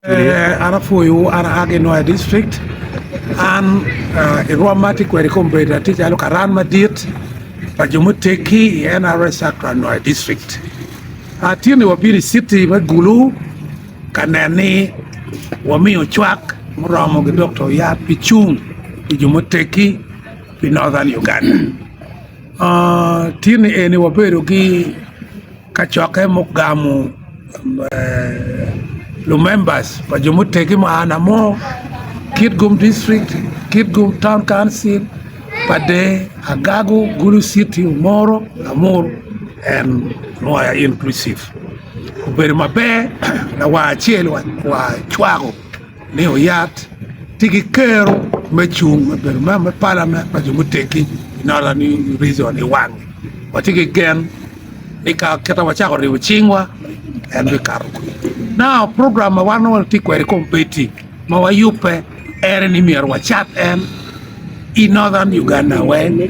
An apwoyowu, an aa ki Nwoya district. An i rwom ma atye kwede kong obedo atye calo karan madit pa jo muteggi i NRA Sacra Nwoya district. Atye ni wabino i citi me Gulu ka nen ni wamiyo cwak muromo ki dok to yat pi cung pi jo muteggi pi Northern Uganda. Aa, tyeni eni wabedo ki Kacokke mugamo lumembas pa jo mutegi ma aa namo, Kitgum District, Kitgum Town Council, Padee, Agago, Gulu City, Omoro, Lamur and Mwaya inclusive. Obedo maber lawar acel wa cwako ni oyat tye ki kero me cung ma obedo member me palament pa jo muteggi nongo ni rizon i wange watye ki gen ni ka kita wacako ribo cingwa en bikato kwede nao program ma wan nongo watye kwede i kombeddi ma wayubbe en ni myero wacat en i northern Uganda weng.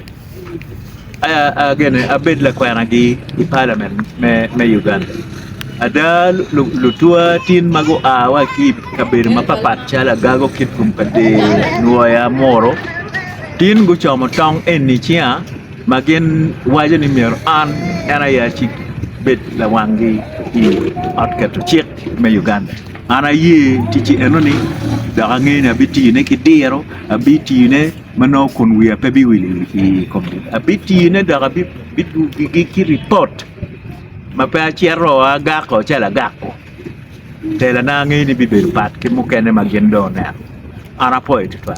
Agene abed lakwenagi i palament me Uganda. Ada lutwa tin ma gua wa ki i kabedo mapatpat calo Agago, Kitgum, Kader, Nwoya, Muru tin gucomo tong eni ciya ma gin waco ni myero an en aye abed lawanggi i ot keto cik me Uganda. An aye ticci enoni dok angeyo ni abitiyone ki diro, abitiyone. ma nongo kun wiya pe biwil i komgi, abitine dok abidugo gigi ki ripot ma pe acito agako calo agako, telana angeyo ni bibedo pat ki mukene ma gin dong oneno, an apoyo tutwal.